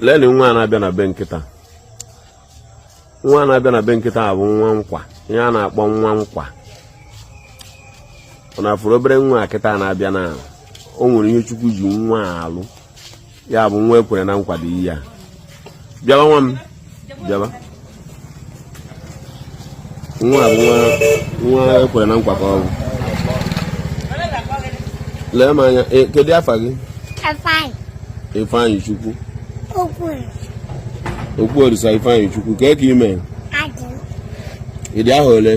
leenụ nwa a na-abịa na be m kịta nwa a na-abịa na be m kịta bụ nwa nkwa ihe a na-akpọ nwa nkwa ọ na-afụrụ obere nwa a kịta na-abịa na o nwere ihe chukwu ji nwa alụ ya bụ nwa e kwere na nkwa dị ihe a bịawa nwa m bịaba nwa bụ nwa e kwere na nkwa ka ọ bụ lee m anya e, kedu afa gị ifeanyịchukwu okwuolisa ifeanyịchukwu kee ka ị me ị dị ahọ ole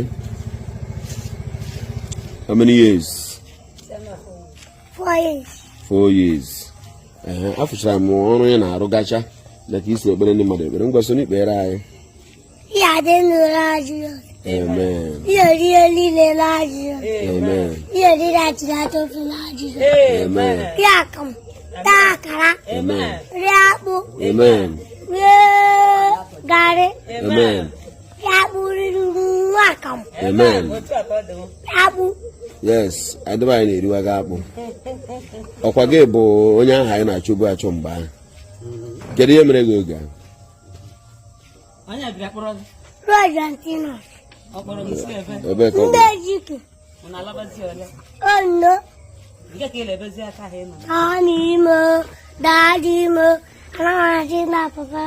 how many years four years afụchara m ọrụ ya na-arụ gacha na ka i si ekpere ndị mmadụ ekpere ngwa so n'ikpere anyị Amen. Io io lì le lagio. Amen. Io lì la girato sul lagio. Amen. Chiacam. Taa akara. Amen. Rie akpụ. Amen. Garị. Amen. Amen. Yes, ndị be anyị na-eriwaga akpụ. Ọ kwa gị bụ onye ahụ anyị na-achọbu achọ mgbe ahụ. Kedu ihe mere gị oge ahụ? Onye bịara kpọrọ gị? Roy Antinos. Ọ kpọrọ gị si ebe? Ebe ka ọ bụ. Ndị Ejike. ọnụ ọnụ imo daadị imo anaghị na papa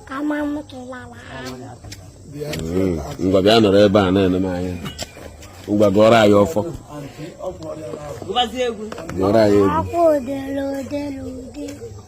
ka ma m tụlala ngwa bịa nọrọ ebe a na-ene m anya ngwa gụọrọ anyị ọfọ gụọrọ anyị egwu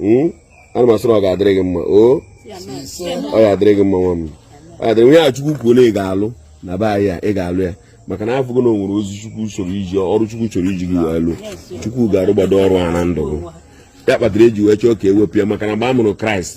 hmm? ana m asị na ọ ga-adịrị gị mma o ọ ga-adịrị gị mma nwa m ọ ga-adịrị onye a chukwu kwuo na ị ga-alụ na be anyị a ị ga-alụ ya maka na afụgo m na o nwere ozi chukwu chọrọ iji ọrụ chukwu chọrọ iji gị wee lụ chukwu ga-arụgbado ọrụ a na ndụ gị ya kpatara e ji wee chọọ ka e wepụ ya maka na mgbe a mụrụ kraịst